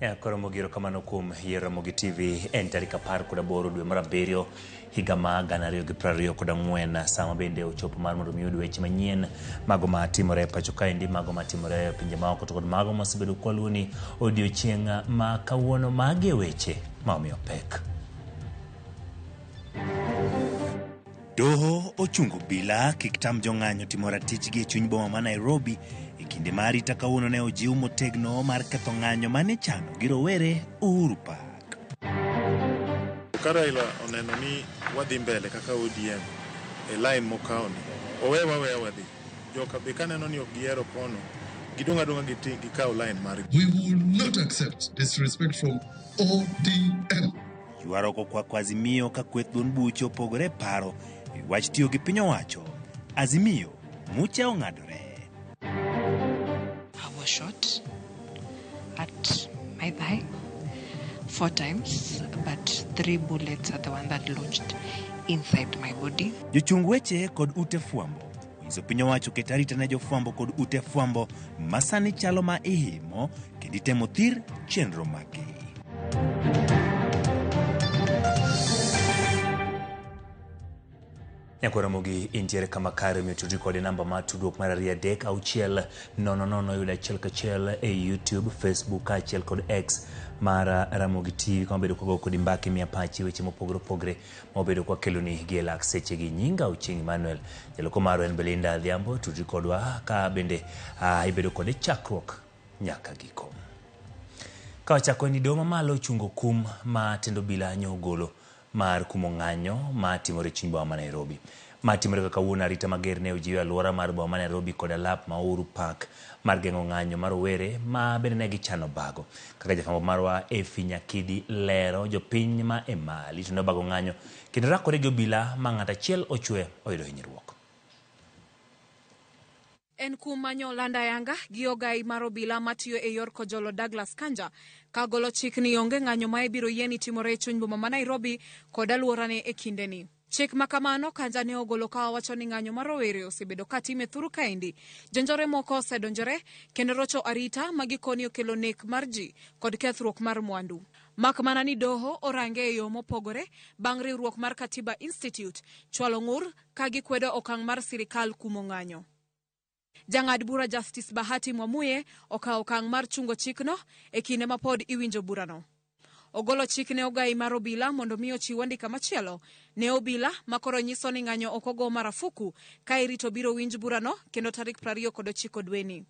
Ya, koro mogiro kamano kuom yiero Ramogi TV en tarik apar kod aboro dwe mar abiriyo higa ma gana ariyo gi piero ariyo kod ang'wen sama bende ochopo mar mondo mi oyud weche manyien mago ma timore e pacho kaendi mago ma timore e pinje maoko to kod mago masebedo kwaluoni odiochieng' ma kawuono mage weche ma omiyo pek. Doho ochungo obila kik tam jong'anyo timo ratichgi e chuny boma ma Nairobi e kinde ma arita kawuono ne ojiw motegno mar ketho ng'anyo mane chano gi rowere Uhuru Park. Ka Raila oneno ni wadhi mbele kaka ODM e lain mokawoni, owe waweya wadhi. Joka be kaneno ni ok gihero kono, gidong' adong'a gi ting' gikaw line margi. We will not accept disrespect from ODM. Ywaruok okwako Azimio ka kweth duond buche opogore e paro e wi wach tiyo gi piny owacho. Azimio, mucha ong'adore. Our shot. at my thigh four times, but three bullets are the one that lodged inside my body. Jochung weche kod ute fwambo onyiso piny owacho ket arita ne jofwambo kod ute fwambo masani chalo ma ihimo kendo itemo thir chenro maggi. Nyako Ramogi intiere kama kare omiyo tudri kod e namba mar tudruok mar ariyo adek auchiel nono nono yudo achiel kachiel e YouTube, Facebook kaachiel kod X mar Ramogi TV kama bedo kwago kodi mbaka imiya pachi weche mopogore opogore ma wabedo kwakeloni gi e lak sechegi. Nyinga Ochieng Emmanuel, jaloko marwa en Belinda Adhiambo, tudri kodwa ka bende ah, ibedo kode chakruok nyaka giko. Ka wachako ni doho mamalo ochungo kum ma tend obila nyo ogolo mar kumo ng'anyo ma timore chuny boma ma Nairobi. Ma timore ka kawuono arita mager ne ojiw e aluora mar boma ma Nairobi koda lap ma Uhuru Park mar geng'o ng'anyo ma rowere ma bende ne gichano bago. Kaka jafwambo marwa Efi Nyakidi lero, jopiny ma e Mali to ne obago ng'anyo kendo rakore gi obila ma ng'ato achiel ochwe oyudo hinyruok. En kuom manyo land ayanga gi ogayi mar obila matiyo e yor kojolo Douglas Kanja ka golo chik ni onge ng'anyo ma ibiro yie ni timore e chuny boma ma Nairobi kod aluorane e kindeni. Chik ma kamano Kanja ne ogolo ka owacho ni ng'anyo mar rowere osebedo ka time thuru kaendi, jonjore moko osedonjore, kendo rocho arita ma gikoni okelo nek mar ji kod kethruok mar mwandu. Mak mana ni doho orange e yo mopogore bang' riwruok mar Katiba Institute chwalo ng'ur ka gikwedo okang' mar sirikal kumo ng'anyo. Jang'ad bura Justice Bahati Mwamuye okawo okang' mar chungo chikno e kinde ma pod iwinjo burano. Ogolo chik ne ogayi mar obila mondo mi ochiw andika machielo ne obila ma koro nyiso ni ng'anyo ok ogo marafuku ka irito biro winj burano kendo tarik prariyo kod ochiko dweni.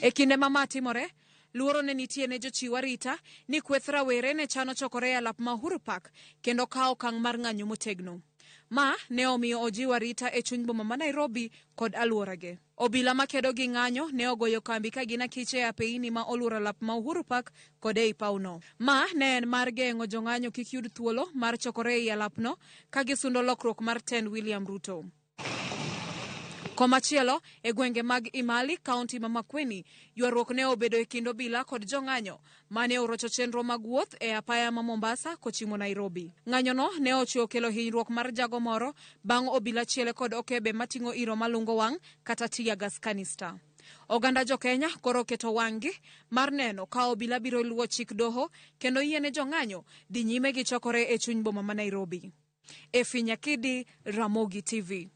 E kinde ma ma timore, luoro ne nitie ne jochiw arita ni kweth rawere ne chano chokore e alap ma Uhuru Park kendo kawo okang' mar ng'anyo motegno. Ma ne omiyo ojiw arita e chuny boma ma Nairobi kod alworage. Obila ma kedo gi ng'anyo ne ogoyo kambi ka gin akiche e apeini ma olworo alap ma Uhuru Park kod ei pawno. Ma ne en mar geng'o jong'anyo kik yud thuolo mar chokore ei alapno ka gisundo lokruok mar tend William Ruto. Komachielo, e gwenge mag Imali, kaunti ma Makueni, ywaruok ne obedo e kind obila kod jong'anyo mane orocho chenro mag wuoth e apaya ma Mombasa kochimo Nairobi. Ng'anyono ne ochwe okelo hinyruok mar jago moro bang' obila chiele kod okebe mating'o iro malungo wang' kata teargas canister. Oganda jokenya koro oketo wang'gi mar neno ka obila biro luwo chik doho kendo yiene jong'anyo dhi nyime gi chokore e chuny boma ma Nairobi. Efi Nyakidi, Ramogi TV.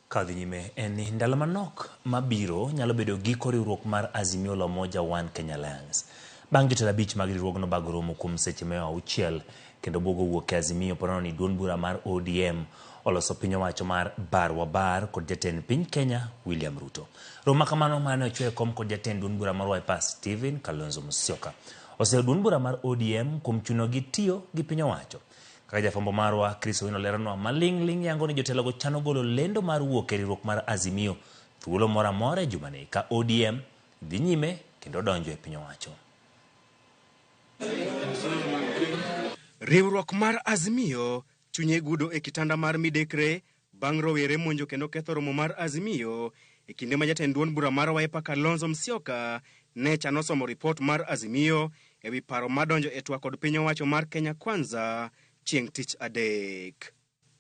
Ka dhi nyime en ni ndalo manok mabiro nyalo bedo giko riwruok mar Azimio la Umoja One Kenya Alliance. Bang' jotelo abich mag riwruogno bago romo kuom seche mia auchiel kendo bwogo wuok e Azimio paro ni duond bura mar ODM oloso piny owacho mar bar wa bar kod jatend piny Kenya William Ruto. Romo ma kamano mane ochwe e kom kod jatend duond bura mar Wiper Stephen Kalonzo Musyoka Oseduond bura mar ODM kuom chunogi tiyo gi piny owacho. Kaka jafwambo marwa Chris Owino leronwa, maling' ling' yango ni jotelogo chano golo lendo mar wuok e riwruok mar Azimio thuolo moro amora e jumani ka ODM dhi nyime kendo donjo e piny owacho. Riwruok mar Azimio chunye gudo e kitanda mar midekre Bang' rowere monjo kendo ketho romo mar Azimio e kinde ma jatend duond bura mar Wiper Kalonzo Musyoka ne chano somo ripot mar Azimio e wi paro ma donjo e twak kod piny owacho mar Kenya Kwanza chieng' tich adek.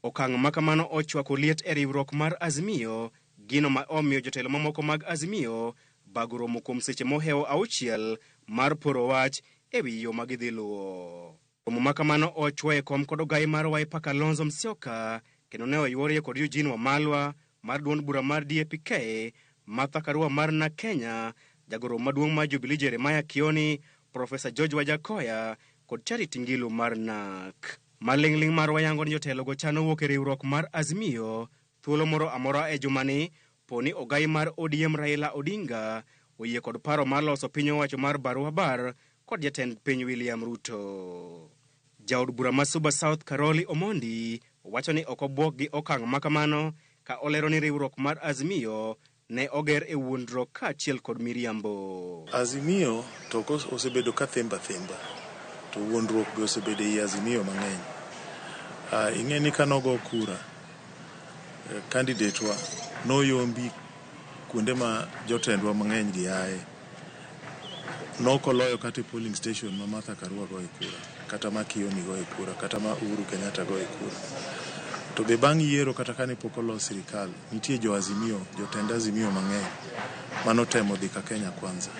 Okang' ma kamano ochwako liet e riwruok mar Azimio, gino ma omiyo jotelo mamoko mag Azimio bago romo kuom seche mohewo auchiel mar poro wach e wi yo ma gidhi luwo. Romo ma kamano ochwoye kom kod ogayi mar Wiper Kalonzo Musyoka kendo ne oyworie kod Eugene Wamalwa mar duond bura mar DAPK, Martha Karua mar NARC Kenya, jagoro maduong' mar Jubilee Jeremiah Kioni, Profesa George Wajakoya kod Charity Ngilu mar NARC. Maling'ling' marwa yango ni jotelogo chano wuok e riwruok mar Azimio Thuolo moro amora e jumani, poni ogayi mar ODM Raila Odinga oyie kod paro mar loso piny owacho mar Barua Bar kod jatend piny William Ruto. Jaod bura ma Suba South Karoli Omondi wacho ni ok obuok gi okang' makamano ka olero ni riwruok mar Azimio Ne oger e wuondruok kaachiel kod miriambo. Azimio to ok osebedo ka thembo athemba to wuondruok be osebedo ei Azimio mang'eny. Ah, ing'e ni kane ogo kura, candidate wa noyombi kuonde ma jotendwa mang'eny gi aye. Nok oloyo kata e polling station ma Martha Karua goye kura, kata ma Kioni goye kura, kata ma Uhuru Kenyatta goye kura. To be bang' yiero kata kane pok olos sirikal, nitie jo Azimio, jotend Azimio mang'eny manotemo dhi ka Kenya Kwanza.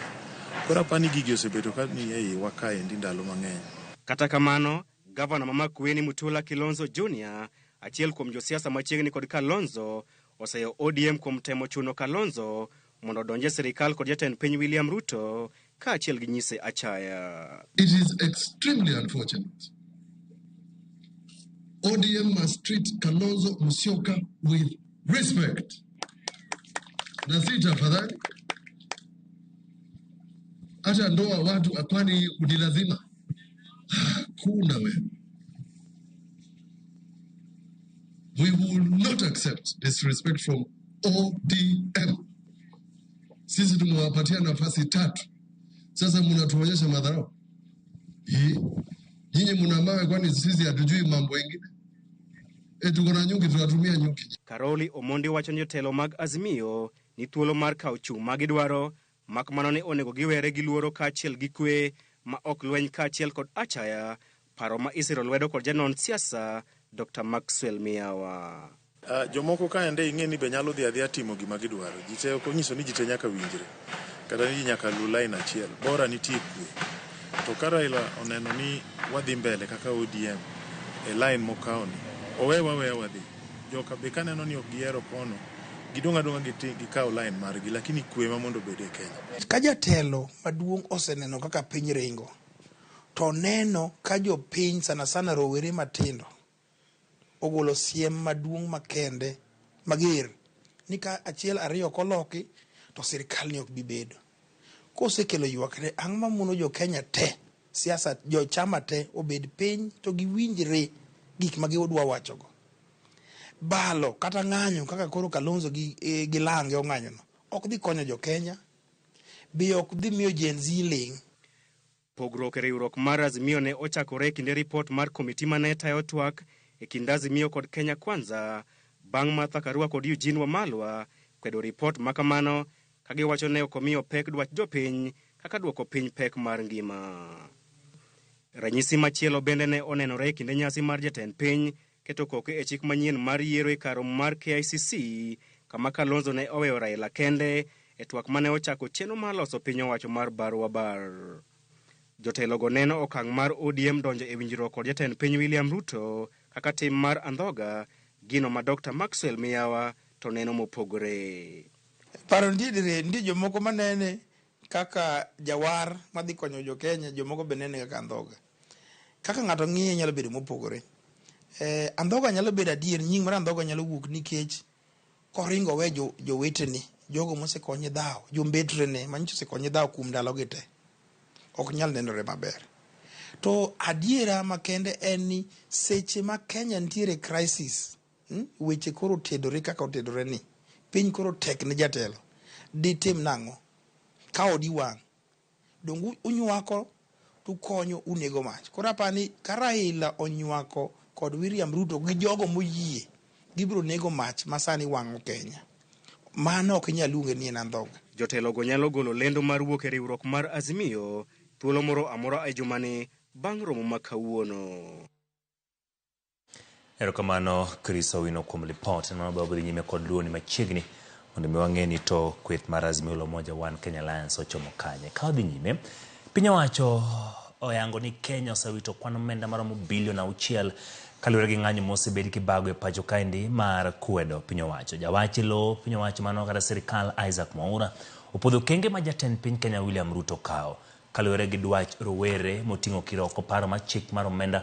Koro apani gigi osebedo ka ni e iwa kaendi ndalo mang'eny. Kata kamano, Gavana ma Makueni Mutula Kilonzo Junior, achiel kuom josiasa machiegni kod Kalonzo, oseyo ODM kuom temo chuno Kalonzo mondo odonj e sirkal kod jatend piny William Ruto kaachiel gi nyise achaya. It is extremely unfortunate. ODM must treat Kalonzo Musyoka with respect. Na si tafadhali. Hata ndoa watu akwani ni lazima. Hakuna wewe. We will not accept disrespect from ODM. Sisi tumewapatia nafasi tatu, sasa mnatuonyesha madharau. Hii nyinyi mna mawe, kwani sisi hatujui mambo mengine? E, tuko na nyuki, tunatumia nyuki. Karoli Omondi wacho ni jotelo mag Azimio ni thuolo mar kawo chung' ma gidwaro Mak mana ni onego giwere gi luoro kaachiel gi kwe ma ok lweny kaachiel kod achaya, paro ma isiro lwedo kod janon siasa Dokta Maxwell Miyawa. Jomoko kaende ing'e ni be nyalo dhi adhiya timo gima gidwaro. Ji te ok onyiso ni ji te nyaka winjre kata ni ji nyaka lu lain achiel. Bora nitie kwe. To ka Raila oneno ni wadhi mbele kaka ODM e lain mokawoni, owewa aweya wadhi. Joka be kaneno ni ok gihero kono, gidong' adong'a giti gikaw line margi lakini kwe ema mondo obed e Kenya. Ka jatelo maduong' oseneno kaka piny ringo, to oneno ka jopiny sana sana rowere matindo ogolo siem maduong' makende mager ni ka achiel ariyo ok oloki to sirkal ni ok bi bedo. Kosekelo ywakne, ang'o mamono jo Kenya te, siasa, jo chama te obed piny to giwinjre gik ma gidwa wachogo? Balo kata ng'anyo kaka koro Kalonzo gi, eh, gi Lange ong'anyono ok dhi konyo jo Kenya, be ok dhi miyo Gen Z ling'. Pogruok e riwruok mar Azimio ne ochakore e kinde ripot mar komiti ma ne tayo twak e kind Azimio kod Kenya Kwanza bang' Martha Karua kod Eugene Wamalwa kwedo ripot ma kamano ka giwacho ne ok omiyo pek dwach jopiny kaka dwoko piny pek mar ngima. Ranyisi machielo bende ne onenore e kinde nyasi mar jatend piny keto koke e chik manyien mar yiero e kar romo mar KICC kama Kalonzo ne oweyo Raila kende e twak mane ochako chenro mar loso piny owacho mar bar wa bar. Jotelogo neno okang' mar ODM donjo e winjruok kod jatend piny William Ruto kaka tim mar andhoga, gino ma Dr. Maxwell Miyawa to neno mopogore. Paro nitie dire, nitie jomoko manene kaka jawar madhi konyo jo Kenya, jomoko be nene kaka andhoga. Kaka ng'ato ng'iye nyalo bedo mopogore. Eh, andhoga nyalo bedo adier, nying mar andhoga nyalo wuok nikech koringo we jo, jowetene, jogo mosekonye dhawo, jombetrene, manyicho osekonye dhawo kuom ndalogi te. Ok nyal nenore maber. To adiera makende en ni seche ma Kenya nitiere crisis, hmm, weche koro otedore kaka otedore ni, piny koro tek ne jatelo, ditim nang'o? Ka odi wang', Donge unywako to ukonyo unego mach. Koro apa ni ka Raila onywako kod William Ruto gi jogo moyie gibiro nego mach ma sani wang'o Kenya. Mano ok inyal luonge ni en andhoga. Jotelogo nyalo golo lendo mar wuok e riwruok mar Azimio thuolo moro amora e jumani bang' romo ma kawuono. Erokamano Chris Owino kuom lipot. Neno wabe wabidhi nyime kod luoni machiegni mondo mi wang'e ni to kweth mar Azimio la Umoja One Kenya Alliance ochomo kanye. Ka wadhi nyime, piny owacho oyango ni Kenya osewito kwan omenda maromo bilion auchiel kaluwore gi ng'anyo mosebed kibago e pacho kaendi mar kwedo piny owacho. Jawach e lo piny owacho mano kata sirikal Isaac Mwaura opodho okenge ma jatend piny Kenya William Ruto kawo. Kaluwore gi dwach rowere moting'o kiroko paro mar chik mar omenda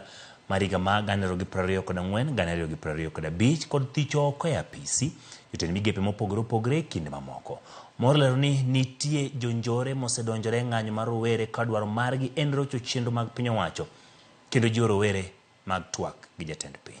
mar higa ma gana ariyo gi piero ariyo kod ang'wen, gana ariyo gi piero ariyo kod abich kod thicho oko e apisi jotend migepe mopogore opogore e kinde mamoko. Mor olero ni nitie jonjore mosedonjore e ng'anyo mar rowere ka dwaro margi en rocho chenro mag piny owacho kendo jiwo rowere mag twak gi jatend piny.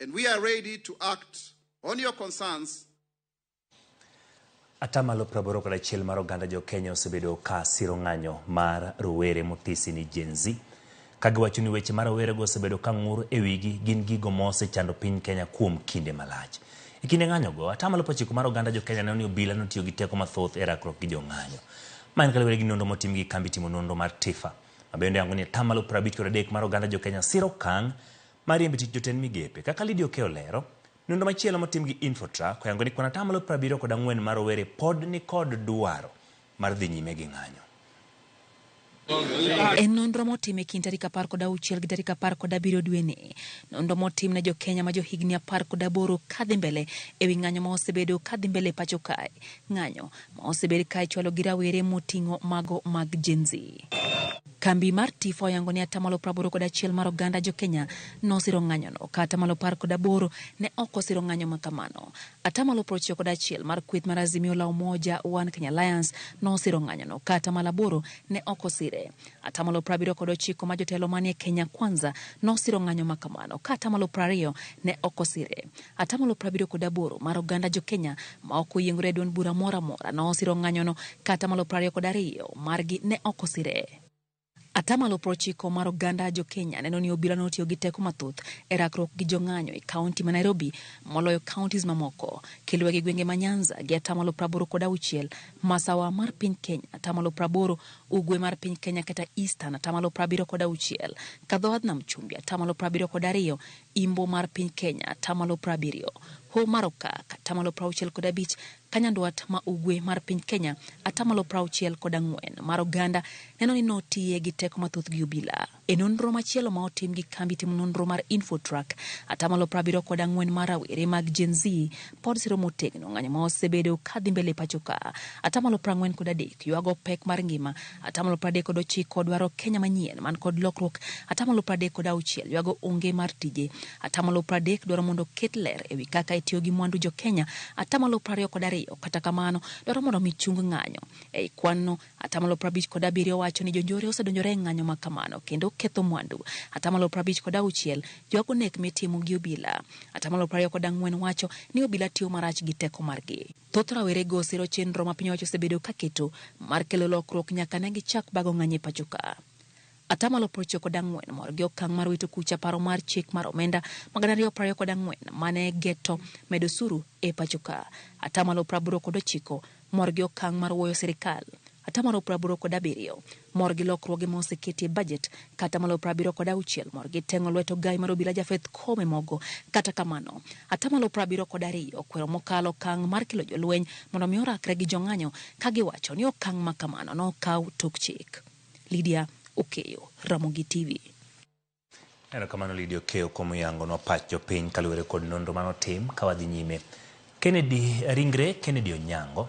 and we are ready to act on your concerns Atamalo praboro kod achiel mar oganda jo Kenya osebedo ka siro ng'anyo mar rowere mothisi ni Gen Z. Ka giwacho ni weche ma rowerego osebedo ka ng'ur e wigi gin gigo ma osechando piny Kenya kuom kinde malach. E kinde ng'anyogo, atamalo prochiko mar oganda jo Kenya neno ni obila notiyo gi teko mathoth e rakruok gi jo ng'anyo. Ma en kaluwore gi nonro motim gi kambi timo nonro mar TIFA. Ma bende yango ni atamalo prabich kod adek mar oganda jo Kenya siro okang' mariembo e tich jotend migepe. Kaka Lydia Okey olero, nonro machielo motim gi Infotrack oyango ni kuon atamalo prabiriyo kod ang'wen mar rowere pod nikod dwaro mar dhi nyime gi ng'anyo. E nonro motim e kind tarik apar kod auchiel gi tarik apar kod abiriyo dweni, nonro motim ne jokenya ma johigni apar kod aboro kadhi mbele e wi ng'anyo ma osebedo kadhi mbele e pacho kae, ng'anyo ma osebed ka ichwalo gi rawere moting'o mago mag Gen-Z. Kambi mar Tifa oyango ni atamalo praboro kod achiel mar oganda jokenya nosiro ng'anyono, ka atamalo apar kod aboro ne ok osiro ng'anyo makamano. Atamalo prochiko kod achiel mar kweth mar Azimio la Umoja One Kenya Alliance nosiro ng'anyono, ka atamalo aboro ne ok osire. Atamalo prabiriyo kod ochiko mar jotelo manie Kenya Kwanza nosiro ng'anyo makamano, ka atamalo prariyo ne ok osire. Atamalo prabiriyo kod aboro mar oganda jo-Kenya maok oyiengore e duond bura moro amora nosiro ng'anyono ka atamalo prariyo kod ariyo margi ne ok osire. Atamalo prochiko mar oganda jo-Kenya neno ni obila notiyo gi teko mathoth e rakruok gi jong'anyo e kaunti ma Nairobi moloyo counties mamoko kiluwe gi gwenge ma Nyanza gi atamalo praboro kod auchiel, Masawa mar piny Kenya atamalo praboro, Ugwe mar piny Kenya kata Eastern atamalo prabiriyo kod auchiel, Kadhowadh Nam Chumbi atamalo prabiriyo kod ariyo Imbo mar piny Kenya, atamalo prabiriyo, Hoho mar Okak, atamalo prauchiel kod abich, ka nyandwat ma ugwe mar piny Kenya, atamalo prauchiel kod ang'wen mar oganda neno ni notiye gi teko mathoth gi obila. E nonro machielo ma otim gi kambi timo nonro mar Infotrack, atamalo prabiriyo kod ang'wen mar rawere mag Gen Z pod siro motegno ng'anyo ma osebedo ka dhi mbele e pachoka. Atamalo prang'wen kod adek ywago pek mar ngima. Atamalo pradek kod ochiko dwaro Kenya manyien man kod lokruok. Atamalo pradek kod auchiel ywago onge mar tije. Atamalo pradek dwaro mondo oket ler ewi kaka itiyo gi mwandu jo Kenya. Atamalo prariyo kod ariyo kata kamano dwaro mondo omi chung ng'anyo. Ei kwan no, atamalo prabich kod abiriyo wacho ni jonjore osedonjore e ng'anyo ma kamano kendo ketho mwandu. Atamalo prabich kod auchiel ywago nek mitimo gi obila. Atamalo prariyo kod ang'wen wacho ni obila tiyo marach gi teko margi. Thoth rawerego osiro chenro ma piny owacho osebedo ka keto mar kelo lokruok nyaka ne gichak bago ng'anyo e pacho ka. Ata malo prochiko kod ang'wen mor gi okang' mar wito kucha paro mar chik mar omenda ma gana ariyo prariyo kod ang'wen ma ne geto medo osuru e pacho ka. Ata malo praboro kod ochiko mor gi okang' mar wuoyo sirkal Atamalo praboro kod abiriyo mor gi lokruoge ma oseketi e bajet, ka atamalo prabiriyo kod auchiel mor gi teng'o lwet ogayi mar obila Japheth Koome Mogo. Kata kamano, atamalo prabiriyo kod ariyo okwero mokalo okang' mar kelo jolweny mondo mi orakre gi jong'anyo ka giwacho ni okang' ma kamano nokaw tok chik. Lydia Okeyo, Ramogi TV. Erokamano Lydia Okeyo kuom yangonwa pach jopiny kaluwore kod nonro mane otim. Ka wadhi nyime, Kennedy ringre Kennedy Onyango,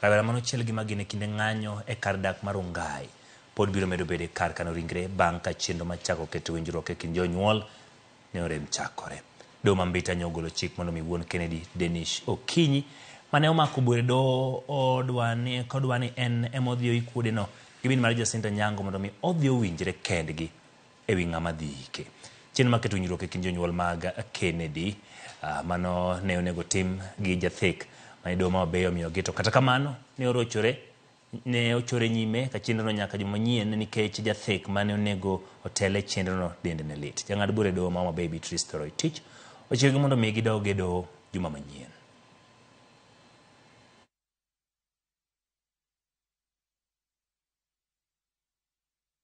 rawera mane ochiel gi magina e kinde ng'anyo e kar dak mar Rongai, pod biro medo bedo e kar kano ringre bang' ka chenro mar chako keto winjruok e kind jonyuol ne orem chakore. Doho ma Mbita nyo ogolo chik mondo omi wuon Kennedy, Denish Okinyi, mane omako bur e doho odwa ni kodwa ni en ema odhi oik wuodeno gi min mare Jacinta Nyango mondo omi odhi owinjre kendgi. e wi ng'ama dhi yike. Chenro mar keto winjruok e kind jonyuol mag Kennedy, ah, mano ne onego tim gi jathek mane doho ma Wabeyo omiyogi, to kata kamano ne orochore ne ochore nyime ka chenrono nyaka juma manyien nikech jathek mane onego otel e chenrono dende ne lit. Jang'ad bura e doho ma Homa Bay Beatrice Toroitich ochikogi mondo omi gidog e doho juma manyien.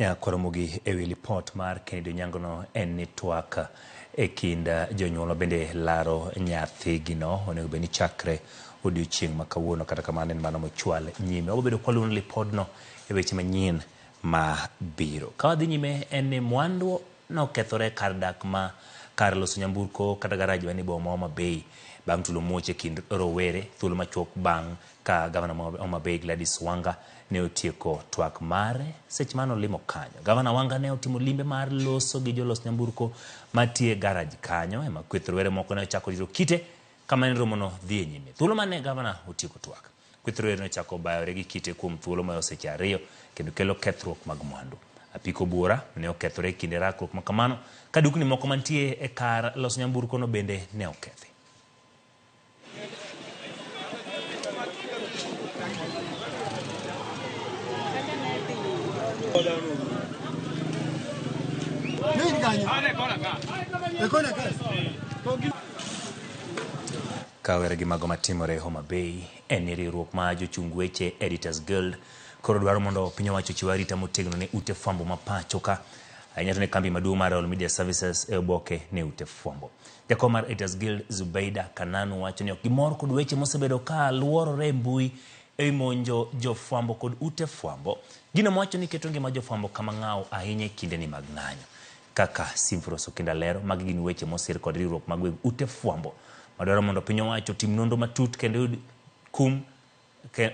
Nyako Ramogi e wi lipot mar Kennedy Onyango no en ni twak e kind jonyuol ma bende laro nyathigi no onego bed ni chakre odiochieng' ma kawuono kata kamano en mano mochwal nyime. Wabo bedo kwaluwo ni lipodno e weche manyien ma biro. Ka wadhi nyime en ni mwandu nokethore e kar dak ma kar loso nyamburko kata garaj man e boma ma Homa Bay bang' tulo muoch e kind rowere thuolo machuok bang' Ka gavana ma Homa Bay Gladys Wanga ne otieko twak mare, seche mane olimo kanyo, gavana Wanga ne otimo limbe mar loso gi jolos nyamburko matiyo e garaj kanyo, ema kweth rowere moko ne ochako rito kite kama ne romono dhi e nyime. Thuolo mane gavana otieko twak, kweth rowere ne ochako bayore gi kite kuom thuolo mayo seche ariyo kendo kelo kethruok mag mwandu. Apiko buora ne okethore e kinde rakruok ma kamano, ka dukni moko mantie e kar loso nyamburkono bende ne okethi. Kawere gi mago matimore Homa Bay en ni riwruok ma jochung weche Editors Guild koro dwaro mondo piny owacho ochiw arita motegno ne ute fwambo ma pacho ka ahinya to ne kambi maduong' mar All Media Services e oboke ne ute fwambo. Jakom mar Editors Guild Zubeida Kananu wacho ni ok gimor kod weche mosebedo ka luorore e mbui e wi monjo jofwambo kod ute fwambo, gino mowacho ni keto ngima jofwambo kama ng'aw ahinya e kindeni mag ng'anyo. Kaka Symphorus Okinda lero, magi gin weche mosir kod riwruok mag weg ute fwambo madwaro mondo piny owacho otim nonro matut kendo yud kum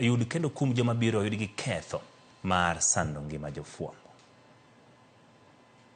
yud kendo kum joma biro yud gi ketho mar sando ngima jofwambo.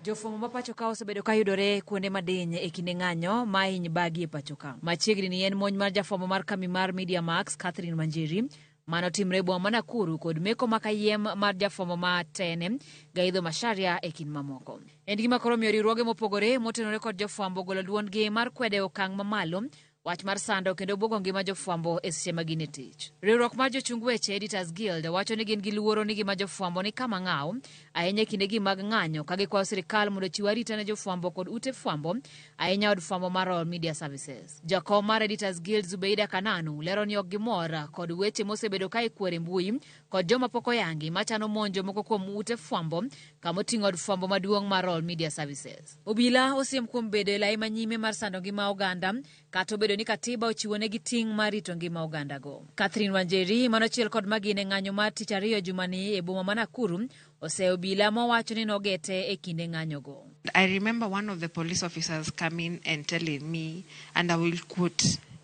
Jofwambo ma pacho ka osebedo ka yudore kuonde madiny e kinde ng'anyo ma hiny bagi e pacho ka. Machiegni ni en monj mar jafwambo mar kambi mar Media Max, Catherine Manjeri, mano timre e boma ma Nakuru kod meko ma kayiem mar jafwambo ma tene, Gaidho Macharia e kind mamoko. En gima koro omiyo riwruoge mopogore motenore kod jofwambo ogolo duondgi mar kwedo e okang' mamalo Wach mar sando kendo buogo ngima jofwambo e seche ma gin e tich. Riwruok mar jochung weche Editors Guild wacho ni gin gi luoro ni gima jofwambo ni kama ng'aw ahinya e kindegi mag ng'anyo ka gikwayo sirkal mondo ochiw arita ne jofwambo kod ute fwambo ahinya od fwambo mar Royal Media Services. Jakom mar Editors Guild Zubeida Kananu lero ni ok gimor kod weche mosebedo ka ikwero e mbui kod joma pok oyangi machano monjo moko kuom ute fwambo kama oting'o od fwambo maduong' mar Royal Media Services. Obila osiem kuom bedo e lai manyime mar sando ngima oganda, kata obedo ni Katiba ochiwonegi ting' mar rito ngima ogandago. Catherine Wanjeri, manochiel kod Magina e ng'anyo mar tich ariyo jumani e boma ma Nakuru, oseyo obila mowacho ni nogete e kinde ng'anyogo. I remember one of the police officers coming and telling me and I will quote.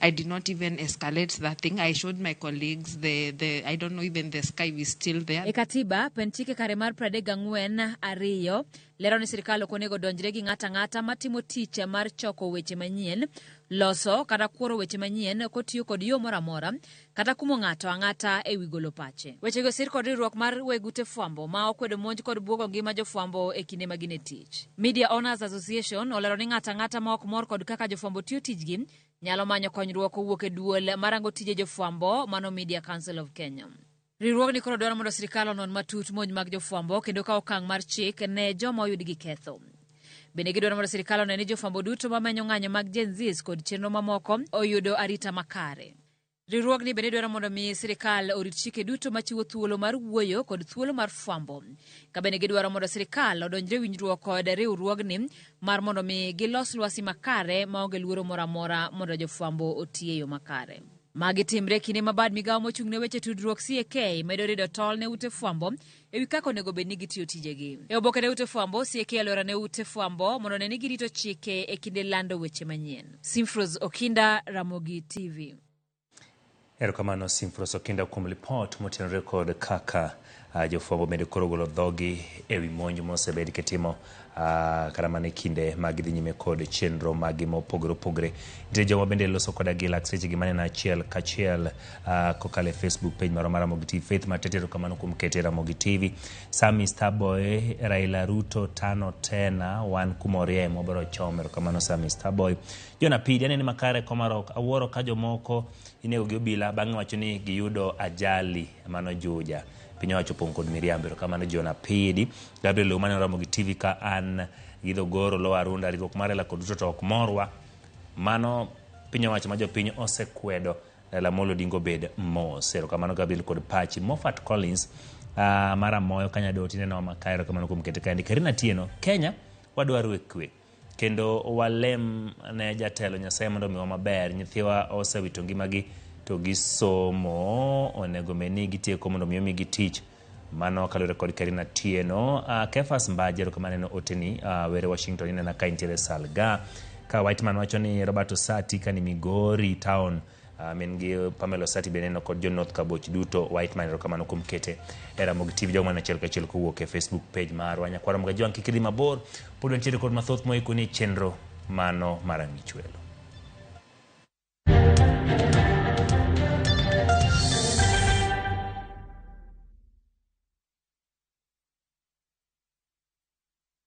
I did not even escalate that thing. I showed my colleagues the, the I don't know even the sky is still there. E katiba penchike kare mar pradek gang'wen ariyo lero ni sirkal ok onego donjre gi ng'ata ng'ata matimo tich mar choko weche manyien, loso kata kworo weche manyien kotiyo kod yo moro amora kata kumo ng'ato ang'ata e wi golo pache. Wechegi osir kod riwruok mar weg ute fwambo ma okwedo monj kod bwogo ngima jofwambo e kinde ma gin e tich. Media Owners Association olero ni ng'ato ang'ata ma ok mor kod kaka jofwambo tiyo tijgi nyalo manyo konyruok kowuok e duol marango tije jofwambo mano Media Council of Kenya. Riwruogni koro dwaro mondo sirkal onon matut monj mag jofwambo kendo kaw okang' mar chik ne joma oyud gi ketho. Bende gidwaro mondo sirkal one ni jofwambo duto ma menyo ng'anyo mag Gen Zs kod chenro mamoko oyudo arita makare. Riwruogni bende dwaro mondo mi sirkal orit chike duto machiwo thuolo mar wuoyo kod thuolo mar fwambo. Ka bende gidwaro mondo sirkal odonjre winjruok kod riwruogni mar mondo mi gilos lwasi makare maonge luoro moro amora mondo jofwambo oti e yo makare. Magi timre kinde ma bad migawo mochung' ne weche tudruok CAK medo rido tol ne ute fwambo e wi kaka onego bed ni gitiyo tijegi. E oboke ne Ute Fwambo, CAK e alwora ne Ute Fwambo mondo one ni girito chike e kinde lando weche manyien. Simfros Okinda, Ramogi TV. Erokamano Simfros Okinda kuom lipot motenore kod kaka uh, jofwambo bende koro golo dhogi e wi monj mosebed kitimo Uh, kata mana e kinde ma gidhi nyime kod chenro maggi mopogore opogore nitie joma bende loso koda gi lak sechegi maneno achiel kachiel uh, kokalo e facebook page marwa mar ramogi tv faith matete erokamano kuom kete ramogi tv sami starboy raila ruto tano tena wan kumorie mwabiro chom erokamano sami starboy jona pidi anene makare komarok awuoro ka jomoko inego gi obila bang'e wacho ni giyudo ajali mano juja piny owacho opong' kod miriambo erokamano jona pidi Gabriel Lew mane oramo gi TV ka an gi Dhogoro Lowa Arunda riwruok mar Raila kod Ruto to ok morwa. Mano piny owacho ma jopiny osekwedo Raila Amolo Odinga obed mos. Erokamano Gabriel kod pachi. Moffat Collins ah, mar Amoyo Kanyadoti neno ma kaero kamano kuom kete kaendi. Karina Tieno, Kenya wadwaro e kwe. kendo walem ne jatelo nyasaye mondo omiwa maber nyithiwa osewito ngimagi to gisomo onego bed ni gitieko mondo mi omigi tich mano kaluwore kod karina tieno uh, kefas mbaje erokamano en oteni uh, were washington inena ka intiere salga ka whiteman wacho ni robert osati ka ni migori town Uh, min gi Pamela Osati be neno kod Jonoth Kaboch duto White Man erokamano kuom kete e Ramogi TV jogo man achiel kachiel kowuok e Facebook page marwa nyakwara mga jwang' kik idhi mabor pod wantiere kod mathoth moikoni e chenro mano mar ang'ichwelo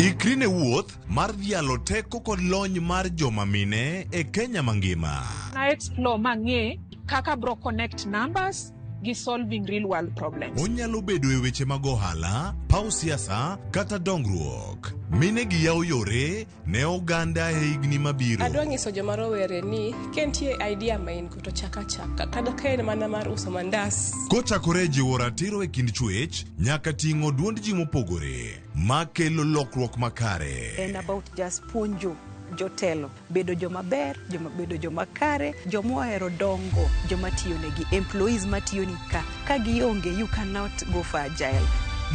Ikri ne wuoth mar dhialo teko kod lony mar joma mine e Kenya mangima. na explore mang'e kaka bro connect numbers gi solving real world problems Onyalo bedo e weche mag ohala, paw siasa, kata dongruok. Mine gi yawo yore ne oganda e higni mabiro. Adwa nyiso joma rowere ni ka nitie idea ma in go to chak achaka kata ka en mana mar uso mandas. Kochakore e jiwo ratiro e kind chuech nyaka ting'o duond ji mopogore ma kelo lokruok makare. en about just puonjo jotelo bedo joma ber joma bedo joma kare joma ohero dongo joma tiyo negi employees matiyoni ka ka gionge you cannot go for agile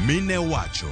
Mine wacho.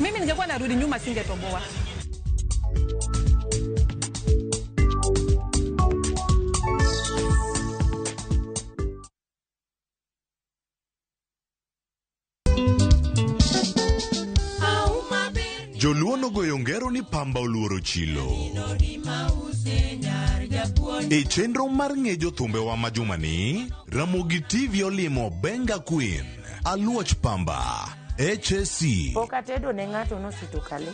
Mimi ningekuwa narudi nyuma singetoboa. Joluo nogoyo ngero ni pamba oluoro chilo. E chenro mar ng'e jothumbewa ma jumani, Ramogi TV olimo Benga Queen, Aluoch Pamba, HSC. Pok atedo ne ng'ato nosuto kale.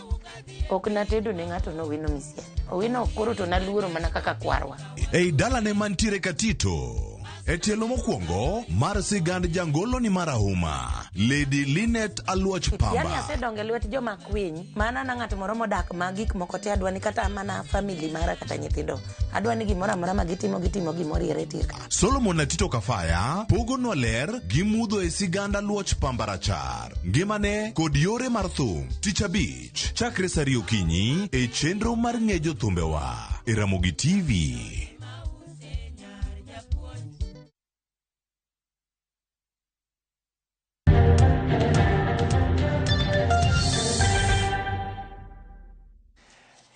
Ok natedo ne ng'ato nowino misie. Owino koro to naluoro mana kaka kwarwa. Ei dalane mantiere Katito. E tielo mokwongo mar sigand jangolo ni marahuma Lady Linet Aluoch Pamba. Yani asedonge lwet joma kwiny. Mana na ng'ato moro modak ma gik moko te adwani kata mana family mara kata nyithindo. Adwani gimoro amora ma gitimo gitimo gimoro ire tir. Solomon Atito Kafaya pogonwa ler gi mudho e siganda luoch pamba rachar, ngimane kod yore mar thum. Tich abich chakre saa ariyo okinyi e chenro mar ng'e jothumbewa e Ramogi TV.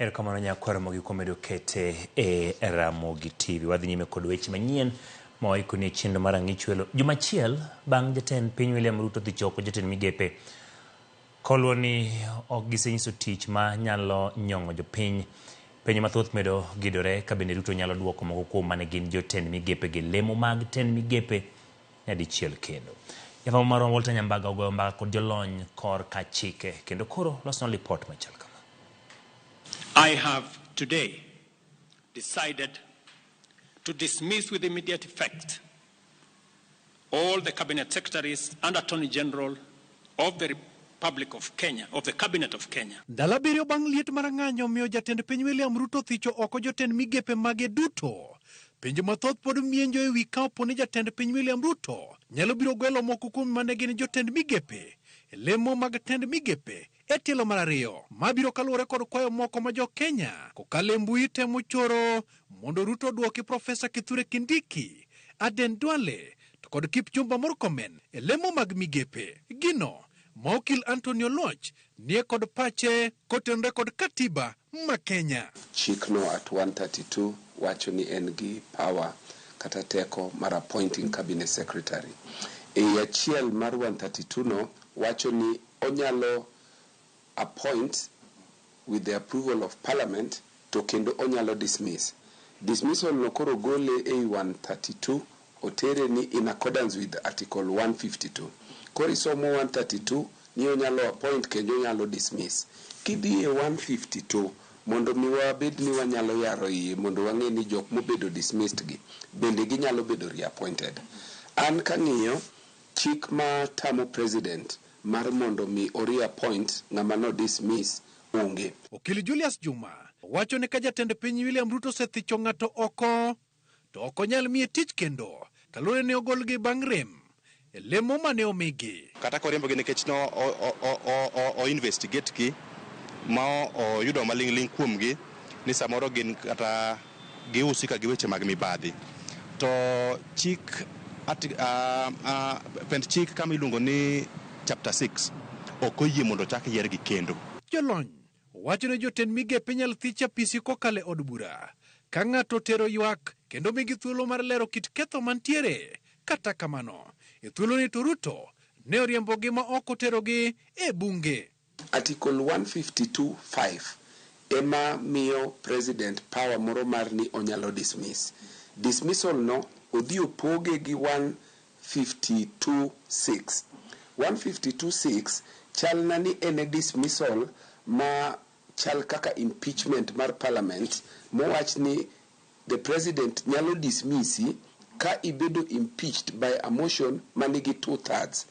erokamano nyakwar mogi kuom medo kete e ramogi tv wadhi nyime kod weche manyien ma waikoni e chenro mar ang'e chwelo juma achiel bang' jatend piny william ruto dhi choko jotend migepe Koluwo ni ok gisenyiso tich ma nyalo nyong'o jopiny, penjo mathoth medo gidore ka bende Ruto nyalo duoko moko kuom mane gin jotend migepe gi lemo mag tend migepe nyadichiel kendo. Jafwambo marwa Walter Nyambaga ogoyo mbaka kod jolony kor ka chike kendo koro losnwa lipot machal kama. I have today decided to dismiss with immediate effect all the cabinet secretaries and attorney general of the Republic of Kenya, of the cabinet of Kenya. Ndalo abiriyo bang' liet marang'anyo miyo jatend piny William Ruto thicho oko jotend migepe mage duto. Penjo mathoth pod mienjo e wi ka opo ni jatend piny William Ruto nyalo biro gwelo moko kuom mane gin jotend migepe e lemo mag tend migepe e tielo mar ariyo mabiro kaluwore kod kwayo moko ma jo-Kenya kokalo e mbui temo choro mondo Ruto odwoki Profesa Kithure Kindiki, Aden Duale to kod Kipchumba Murkomen e lemo mag migepe. Gino ma okil Anthony Oluoch nie kod pache kotenore kod Katiba ma Kenya. Chik no at 132 wacho ni en gi power kata teko mar appointing cabinet secretary. Ei achiel mar 132 no wacho ni onyalo appoint with the approval of parliament to kendo onyalo dismiss. Dismissal no koro gole ei 132 Otere ni in accordance with article 152. Koro isomo 132 ni onyalo appoint kendo onyalo dismiss. Kidhi e 152 mondo mi wabed ni wanyalo yaro iye mondo wang'e ni jok mobedo dismissed gi bende ginyalo bedo reappointed. An kang'iyo chik ma tamo President mar mondo mi o reappoint ng'ama no dismiss onge. Okil Julius Juma wacho ni ka jatend piny William Ruto osethicho ng'ato oko to ok onyal miye tich kendo kaluwore ni ogolgi bang' rem e lemo mane omigi. Kata koriembogi nikech no o investigate gi ma oyudo maling' ling' kuomgi ni samoro gin kata giusi ka gi weche mag mibadhi. To chik pend chik kama iluongo ni chapter six ok oyie mondo ochak yiergi kendo. Jolony Wacho ne jotend migepe nyal thich apisi kokalo e od bura ka ng'ato otero ywak kendo migi thuolo mar lero kit ketho mantiere. Kata kamano, e thuoloni to Ruto ne oriembogi ma ok oterogi e bunge. Article 152 5 ema miyo President power moro mar ni onyalo dismiss. Dismissal no odhi opoge gi one 152:6. 152:6 chalna ni en e dismissal ma chal kaka impeachment mar parliament mowach ni the president nyalo dismissi ka ibedo impeached by a motion manigi two thirds.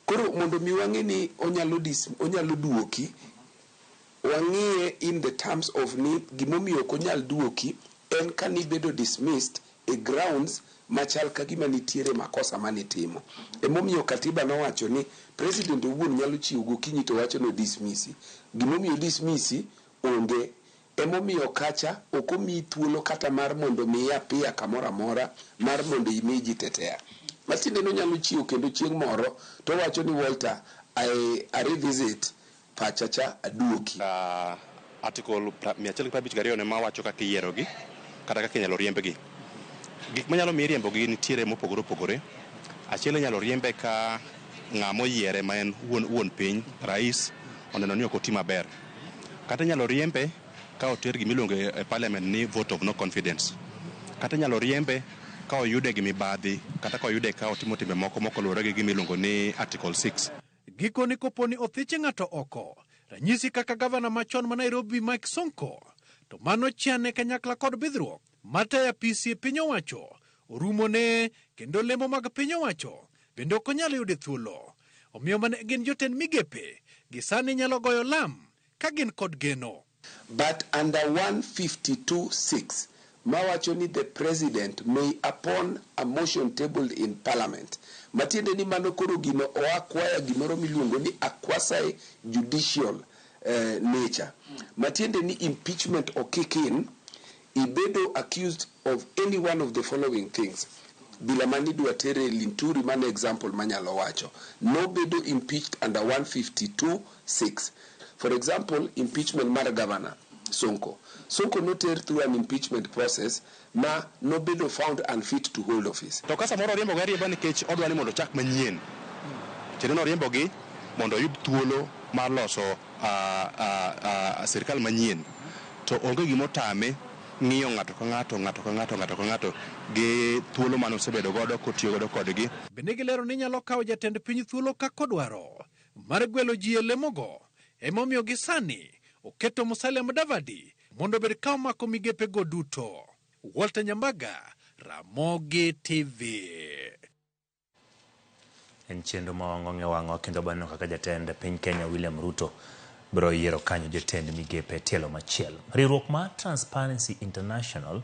Koro mondo mi wang'e ni onyalo dis, onyalo duoki Wang'iye in the terms of ni gimomiyo ok onyal duoki en ka nibedo dismissed e grounds machal kagima nitiere makosa mane itimo. Emomiyo Katiba nowacho ni President owuon nyalo chiew gokinyi to wacho ni o dismissi. Gimomiyo o dismissi onge. Emomiyo kacha ok omiyi thuolo kata mar mondo mi i appear kamoro amora mar mondo imi ji tetea. Matiende ni onyalo chiew kendo chieng' moro towacho ni Walter, I revisit pacha cha aduoki. Article mia achiel gi piero abich gariyo ne ma wacho kaka iyierogi kata kaka inyalo riembgi. Gik manyalo miyi riembogi nitiere mopogore opogore. Achiel inyalo riembe ka ng'a moyiere ma en wuon wuon piny, rais, oneno ni ok oti maber. Kata inyalo riembe ka oter gima iluongo e parliament ni vote of no confidence. Kata inyalo riembe ka oyude gi mibadhi kata ka oyude ka otimo timbe moko mok oluwore gi gima iluongo ni article six. Gikoni kopo ni othiche ng'ato oko, ranyisi kaka gavana machon ma Nairobi Mike Sonko, to mano chane kanyakla kod bidhruok mataya pisi piny owacho orumone kendo lemo mag piny owacho bende ok onyal yude thuolo. Omiyo mane gin jotend migepe gisani nyalo goyo lam Ka gin kod geno. But under 152 6 mawacho ni the president may upon a motion tabled in parliament matiende ni mano koro gino oa kwaya gimoro miluongo ni a quasi judicial nature matiende ni impeachment okik in Ibedo accused of any one of the following things, bila mane idwa tere Linturi mano e example manyalo wacho, nobedo impeached under one hundred and fifty two six. For example impeachment mar Governor Sonko, Sonko noter through an impeachment process ma nobedo found unfit to hold office. To ka samoro oriembogi ariemba nikech odwa ni mondo ochak manyien, tiende ni oriembogi mondo oyud thuolo mar loso. sirkal manyien to onge gima otame ng'iyo ng'ato ka ng'ato ng'ato ka ng'ato ng'ato ka ng'ato gi thuolo mane osebedo godo kotiyo godo kodgi. Bende gilero ni nyalo kawo jatend piny thuolo kaka odwaro mar gwelo ji e lemogo emomiyo gi sani oketo Musalia Mudavadi mondo obed ka omako migepe go duto. Walter Nyambaga, Ramogi TV. En chenro ma wang'ong'e wang'o kendo baneno kaka jatend piny Kenya William Ruto biro yiero kanyo jotend migepe tielo machielo. Riwruok mar Transparency International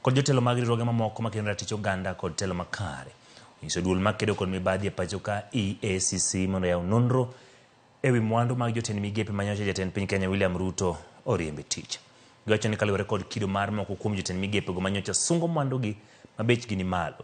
kod jotelo mag riwruoge mamoko makedo ne ratich oganda kod telo makare onyiso duol makedo kod mibadhi e pacho ka EACC mondo yaw nonro e wi mwandu mag jotend migepe ma nyocha jatend piny Kenya William Ruto oriembe tich. Giwacho ni kaluwore kod kido mar moko kuom jotend migepego ma nyocha sungo mwandugi ma bechgi ni malo,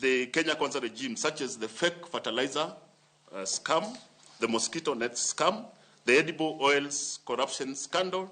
The Kenya Kwanza regime, such as the fake fertilizer uh, scam, the mosquito net scam, the edible oils corruption scandal.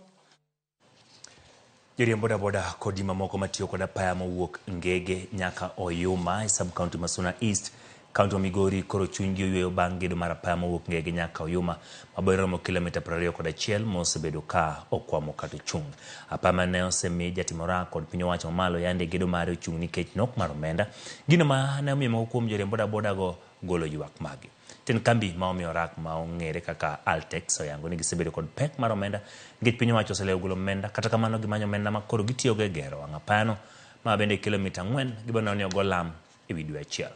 Joriemb bodaboda kod ji mamoko matiyo kod apaya mowuok Ngege nyaka Oyuma e sub county Masuna East kaunti ma Migori koro chunygi oyueyo bang' gedo mar apaya mowuok Ngege nyaka Oyuma Abori romo kilomita prariyo kod achiel mosebedo ka okwamo kata ochung'. Apaya ma ne osemi jatim orak kod piny owacho mamalo yande gedo mare ochung' nikech nok mar omenda. Gino ma ne omiyo moko kuom joriemb bodaboda go golo ywak maggi. Tend kambi ma omiyo orak ma ong'ere kaka Altex oyango ni gisebedo kod pek mar omenda nikech piny owacho oselewo golo omenda kata kamano gimanyo omenda ma koro gitiyogo e gero wang' apayano ma bende kilomita ang'wen giboneno ni ogo lam e wi dwe achiel.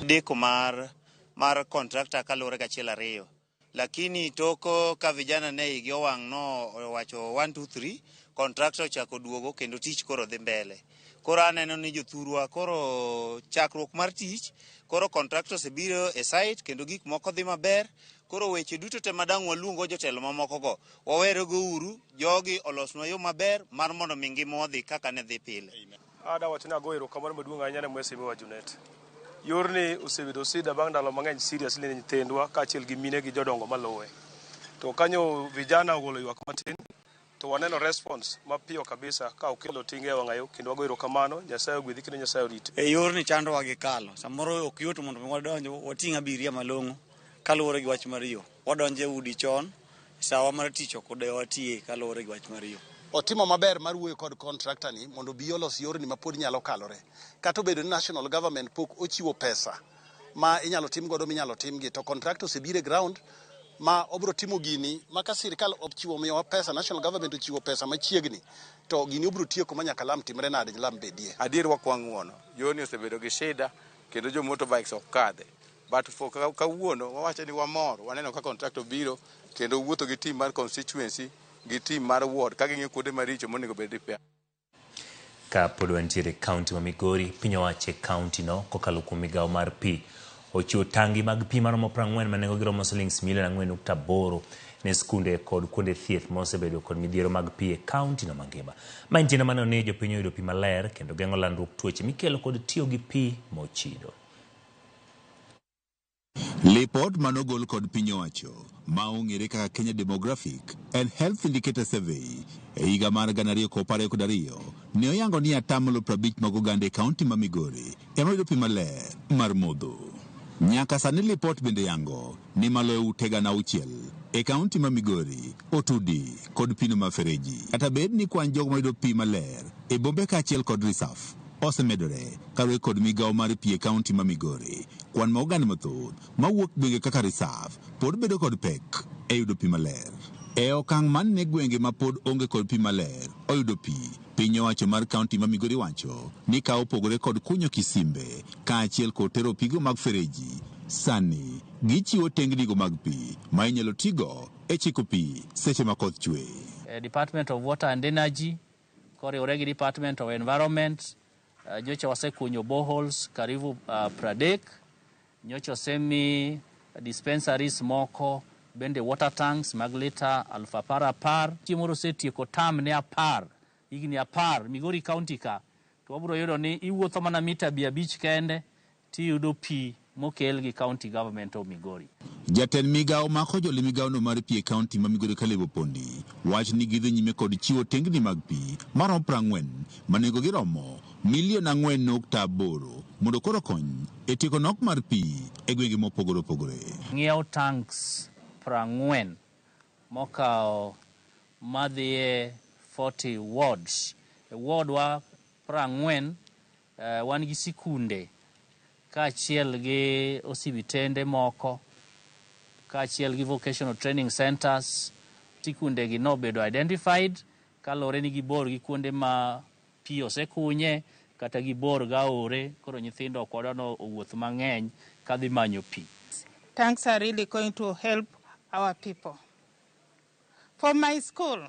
deko mar mar contractor kaluwore gi achiel ariyo lakini toko ka vijana ne igi owang' no owacho 1 2 3 contractor ochako duogo kendo tich koro dhi mbele koro aneno ni jothurwa koro chakruok mar tich koro contractor osebiro e site kendo gik moko dhi maber koro weche duto te madang' waluongo jotelo mamokogo Wawerego uru, jogi olosnwa yo maber mar mondo mi ngimawa odhi kaka ne dhi pile. Ada wacho ni ago erokamano maduong' ahinya ne Mwesemi wa Junet. Yorni osebedo sida bang' ndalo mang'eny seriously ne nyithindwa kaachiel gi mine gi jodongo maluwe. To kanyo vijana ogolo ywak matin to waneno response mapiyo kabisa ka okelo tinga e wang'ayo kendo wago erokamano. Nyasaye ogwedhi kendo Nyasaye oriti. E yorni chandowa gi kalo. Samoro ok yot mondo mi wadonj wating' abiria malong'o kaluwore gi wach mar yo. Wadonjo e udi chon Sawa mar tich ok odewa watiye kaluwore gi wach mar yo. Otimo maber mar wuoyo kod contractor ni mondo obi olos yorni ma pod nyalo kalore. Kata obedo ni national government pok ochiwo pesa ma inyalo tim godo minyalo timgi to contractor osebiro e ground ma obro timo gini ma ka sirkal ochiwo miyowa pesa, national government ochiwo pesa machiegni to gini obro tieko ma nyaka lam timre nade lam bedie. Adier wakwang' ng'uono, yorni osebedo gi shida kendo jo motorbikes ok kadhe. But for ka- kawuono wawacho ni wamor waneno ka contract obiro kendo wuotho gi team mar constituency gi team mar ward ka ging'iyo kuonde maricho monego bed repair. Ka pod wantiere e kaunti ma Migori, piny owacho e kauntino kokalo kuom migawo mar pi ochiwo tangi mag pi maromo 40 ma nengogi romo silings milion 4.8 ne skunde kod kuonde thieth ma osebedo kod midhiero mag pi e kauntino mangima. Ma en tiende maneno ni jopiny oyudo pi maler kendo geng'o landruok tuoche mikelo kod tiyo gi pi mochido. Lipot mane ogol kod piny owacho ma ong'ere kaka Kenya Demographic and Health Indicator Survey e higa mar gana ariyo kop ariyo kod ariyo ne oyango ni atamalo prabich mag oganda e kaunti ma Migori ema yudo pi maler mar modho. Nyaka sani lipot bende yango ni malo e ute gana auchiel e kaunti ma Migori otudi kod pino ma fereji. Kata bed ni kwan jogo mayudo pi maler e bombe kaachiel kod risaf osemedore kaluwore kod migawo mar pi e kaunti ma Migori, kwan ma oganda mathoth mawuok gwenge kaka risaf pod bedo kod pek e yudo pi maler. E okang' mane gwenge mapod onge kod pi maler oyudo pi? Piny owacho mar kaunti ma Migori wacho ni ka opogore kod kunyo kisimbe kaachiel kod tero pigo mag fereji, sani gichiwo tengnigo mag pi ma inyalo tigo e chiko pi seche ma koth chwe. Department of Water and Energy koriwore gi Department of Environment Uh, nyocha wasekunyo boreholes karibu uh, Pradek, nyocha osemi dispensaries moko bende water tanks mag lita aluf apar apar. Chieng' moro osetieko tam ne apar higni apar Migori County ka to wabiro yudo ni iwuotho mana mita abich abich kende tiyudo pii mokel gi county government of Migori. Jatend migao mako joli migao no mar pii e county ma Migori Caleb Opondi wacho ni gidhi nyime kod chiwo tengni mag pii maromo prang'wen ma nengo gi romo milion ang'wen nukta aboro mondo koro okony e tieko nok mar pii e gwenge mopogore opogore. Ng'iewo tanks prang'wen mokawo madhiye forty wards e ward wa prang'wen Wan gi sikunde kaachiel gi osibitende moko kaachiel gi vocational training centers. Sikundegi nobedo identified kaluwore ni gibor gi kuonde ma pi osekunye kata gibor gaore koro nyithindo ok wadwa ni owuoth mang'eny kadhi manyo pi. Tanks are really going to help our people. For my school,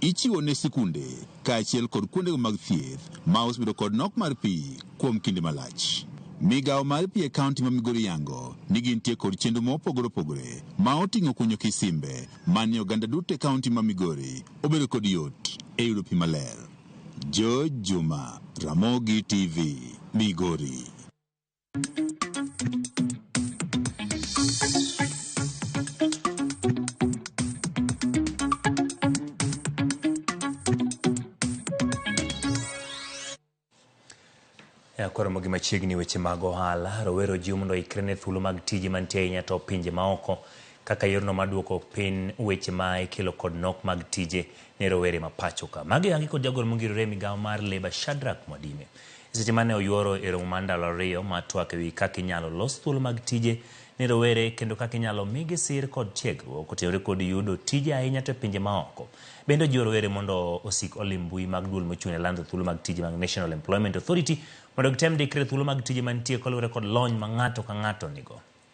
Ichiwo ne sikunde kaachiel kod kuondego mag thieth ma osebedo kod nok mar pi kuom kinde malach. Migawo mar pi e kaunti ma Migori yango ni gintie kod chenro ma opogore opogore ma oting'o kunyo kisimbe ma ni oganda duto e kaunti ma Migori obedo kod yot e yudo pi maler. George Juma, Ramogi TV, Migori. Ya, koro mogi machiegni weche mag ohala rowero jiw mondo ikre ne thuolo mag tije mantie ahinya to pinje maoko kaka yorno mar duoko piny weche ma ikelo kod nok mag tije ne rowere ma pachoka magi yangi kod jagoro mongirore e migawo mar leba Shadrack Mwadime Eseche mane oyuoro e romo mar ndalo ariyo mar twak ewi kaka inyalo los thuolo mag tije ne rowere kendo kaka inyalo migi sir kod tiegruok otenore kod yudo tije ahinya to e pinje maoko, bende ojiwo rowere mondo osik olim mbui mag duol mochung' ne lando thuolo mag tije mag National Employment Authority mondo gitem ndikre e thuolo mag tije mantie kaluwore kod lony ma ng'ato ka ng'ato nigo.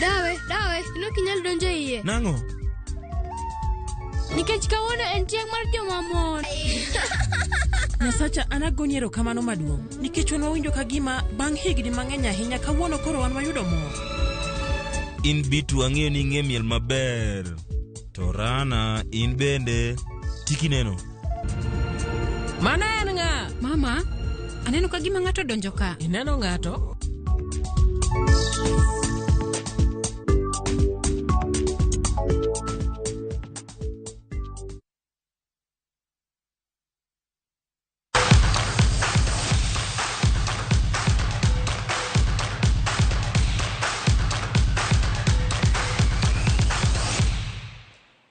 Dawe, dawe, ino kinyal donjo e iye. Nang'o? Nikech kawuono en chieng' mar jomamon. Nyasacha an agoni erokamano maduong' nikech wan wawinjo ka gima bang' higni mang'eny ahinya kawuono koro wan wayudo mor. In Bitu ang'eyo ni ing'e miel maber. To Rana, in bende tiki neno. Mano en ng'a? Mama, aneno ka gima ng'ato donjo ka. Ineno ng'ato?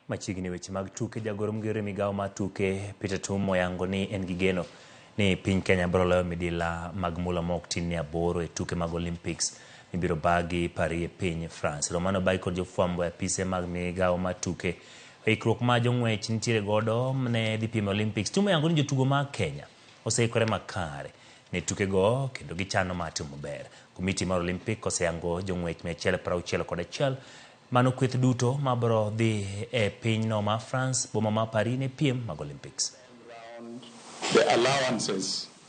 machiegni weche mag tuke jagoro mgero e migawo mar tuke peter tum oyango ni en gi geno ni piny kenya biro loyo midila mag mula ma ok tin ni aboro e tuke mag olympics mibiro bagi paris e piny france romano bai kod jofwambo e apise mag migawo mar tuke Ikruok ma jong'wech nitiere godo ne dhi piem e Olympics tumo yango ni jotugo ma Kenya oseikore makare ne tukego kendo gichano mar timo maber. Komiti mar Olympic oseyango jong'wech mia achiel piero auchiel kod achiel mano kweth duto ma biro dhi e pinyno ma France boma ma Paris ne piem mag Olympics.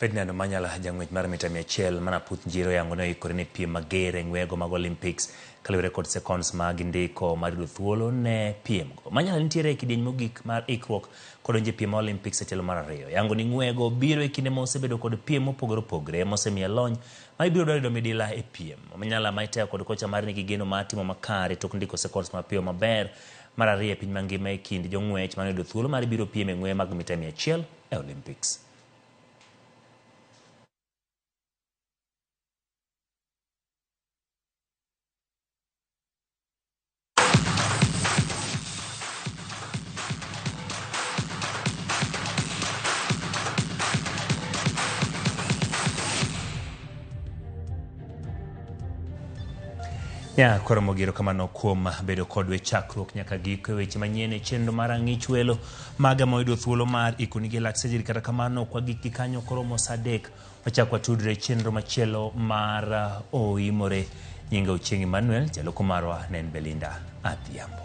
Ferdinand Omanyala jang'wech mar mita mia achiel ma Naputh Njiro oyango ni oikore ne piem mager e ng'weyego mag Olympics kaluwore kod seconds ma gindiko mar yudo thuolo ne piemgo. Omanyala nitiere e kidieny mogik mar ikruok kodonjo e piem ma Olympics e tielo mar ariyo. Yango ni ng'weyego biro e kinde ma osebedo kod piem mopogore opogre mosemiye lony ma ibiro dwar yudo midila e piem. Omanyala ma itayo kod kocha mare nigi geno mar timo makare tok ndiko seconds mapiyo maber mar ariyo e piny mangima e kind jong'wech manoyudo thuolo mar biro piem e ng'weye mag mita mia achiel e Olympics. Ya, koro mogero kamano kuom bedo kodwe chakruok nyaka giko e weche manyien e chenro mar ang'ich welo maga ma oyudo thuolo mar ikoni gi lak sejiri kata kamano ok wagik gi kanyo koro mos adek wachak watudre chenro machielo mar uh, oimore nyinga ochieng emmanuel jaloko marwa ne en belinda adhiambo